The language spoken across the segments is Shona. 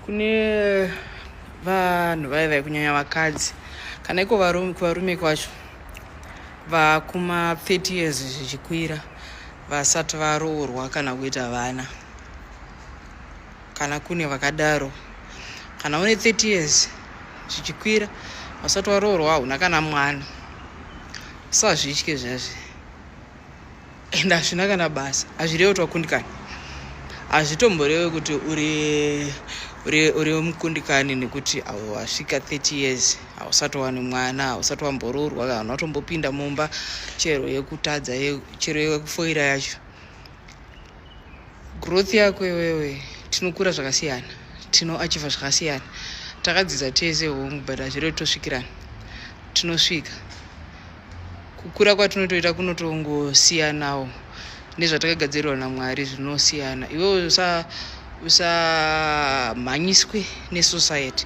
kune vanhu vaye vaye kunyanya vakadzi kana iko varume kuvarume kwacho vakuma 30 years zvichikwira vasati varoorwa kana kuita vana kana kune vakadaro kana une 30 years zvichikwira vasati varoorwa hauna kana mwana usazvitye zvazvi and hazvina kana basa hazvirewe kuti wakundikana hazvitomborewe kuti uri mukundikani nekuti wasvika 30 years hausati wani mwana hausati wamboroorwa kana unatombopinda mumba chero yekutadza chero yekufoira yacho growth yako iwewe tinokura zvakasiyana tinoachiva zvakasiyana takadzidza tese hongu but hazvire kuti tosvikirana tinosvika kukura kwatinotoita kunotongosiyanawo nezvatakagadzirirwa namwari zvinosiyana iwewe usamhanyiswe nesociety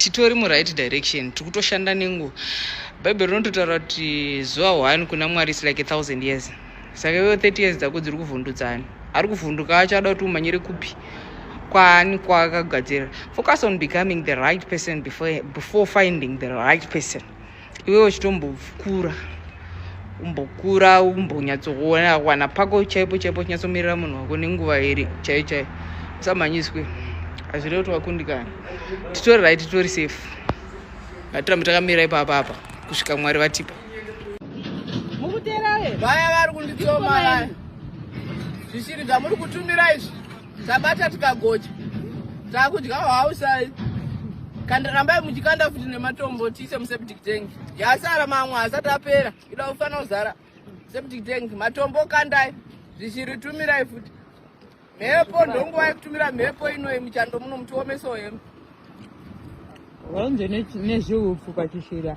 titori muright direction tiri kutoshanda nenguva bhaibheri rinototaura kuti zuva one kuna mwari is like a thousand years saka iwewo 30 years dzako dziri kuvhundutsani ari kuvhunduka acho ada kuti umanyire kupi kwaani kwaakagadzirira focus on becoming the right person before, before finding the right person iwewe uchitombokura umbokura umbonyatsokuona kuwana pako chaipo chaipo uchinyatsomirira munhu wako nenguva iri chaiyo chaiyo usamhanyiswe hazvire kuti wakundikana titori rai titori safe ngatirambe takamira ipapa apa kusvika mwari vatipa mukutera vaya vari kunditsoma vaya zvisiri zvamuri kutumira izvi tabata tikagocha takudya hwausai kanda rambai muchikanda futi nematombo tiise museptic tank yasara mamwe hasati apera ida kufanira kuzara septic tank matombo kandai zvichiritumirai futi mhepo ndonguva yekutumira mhepo inoi muchando muno mutiomesoo hembe vanze nezviupfu pachishira